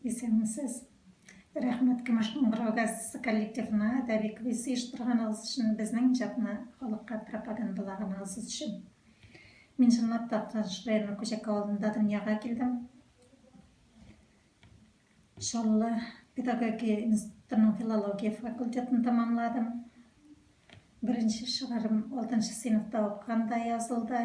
Исәнмесез! Рәхмәт Кемешнең Бырау-газетасы коллективына әдәби квиз оештырганыгыз өчен, безнең иҗатны халыкка пропагандалаганыгыз өчен. Мин чынлап та Актаныш районы Күҗәк авылында дөньяга килдем. Чаллы педагогия институтының филология факультетын тәмамладым. Беренче шигырем алтынчы сыйныфта укыганда язылды.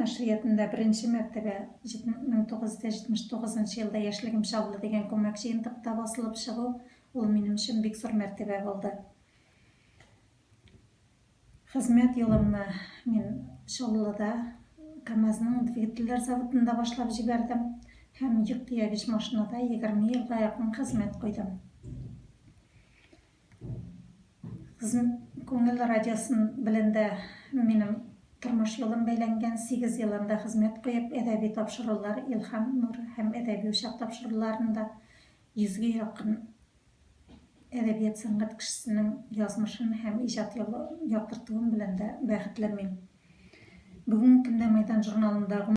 Нәшриятында беренче мәртәбә 1979 елда Яшьлегем чаллы дигән күмәк җыентыкта басылып чыгу, ул минем өчен бик зур мәртәбә булды. Хезмәт юлымны мин Чаллыда КАМАЗның двигательләр заводында башлап җибәрдем һәм йөк тиягеч машинада егерме елга якын хезмәт куйдым. Кызым Күңел радиосын белән дә минем тормыш юлым бәйләнгән. Сигез ел анда хезмәт куеп, әдәби тапшырулар, Илһам нуры һәм Әдәби учак тапшыруларында йөзгә якын әдәбият-сәнгать кешесенең язмышын һәм иҗат юлын яктыртуым белән дә бәхетле мин. Бүгенге көндә Мәйдан журналында